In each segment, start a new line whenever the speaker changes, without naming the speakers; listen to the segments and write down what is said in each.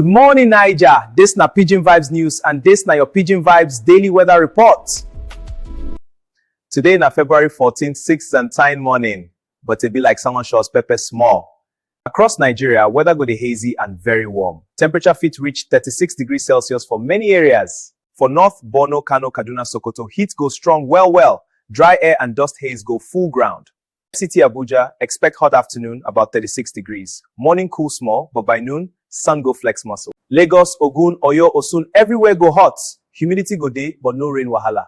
Good morning, Niger. This na Pidgin Vibes News and this na your Pidgin Vibes Daily Weather Report. Today na February 14, 6 and time morning, but it be like someone shows pepper small. Across Nigeria, weather go dey hazy and very warm. Temperature fit reach 36 degrees Celsius for many areas. For North, Borno, Kano, Kaduna, Sokoto, heat go strong well well. Dry air and dust haze go full ground. FCT Abuja expect hot afternoon about 36 degrees, morning cool small but by noon sun go flex muscle. Lagos, Ogun, Oyo, Osun everywhere go hot, humidity go dey but no rain wahala.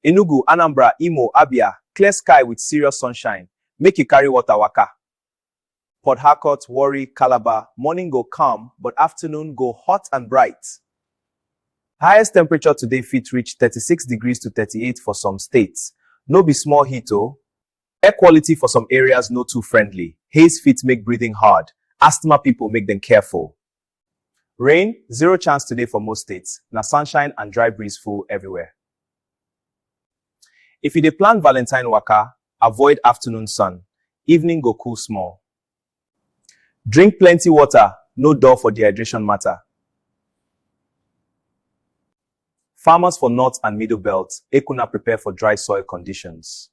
Enugu, Anambra, Imo, Abia clear sky with serious sunshine, make you carry water waka. Port Harcourt, Warri, Calabar, morning go calm, but afternoon go hot and bright. Highest temperature today fit reach thirty six degrees to thirty eight for some states. No be small heat o. Air quality for some areas no too friendly, haze fit make breathing hard, asthma pipo make dem careful. Rain, zero chance today for most states. Na sunshine and dry breeze full everywhere. If you dey plan Valentine waka, avoid afternoon sun. Evening go cool small. Drink plenty water, no dull for dehydration matter. Farmers for north and middle belt, ekuna prepare for dry soil conditions.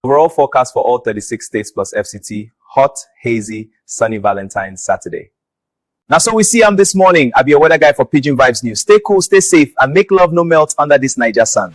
Overall forecast for all 36 states plus FCT, hot, hazy, sunny Valentine's Saturday. Now, so we see I'm this morning. I'll be your weather guy for Pidgin Vibes News. Stay cool, stay safe, and make love no melt under this Niger sun.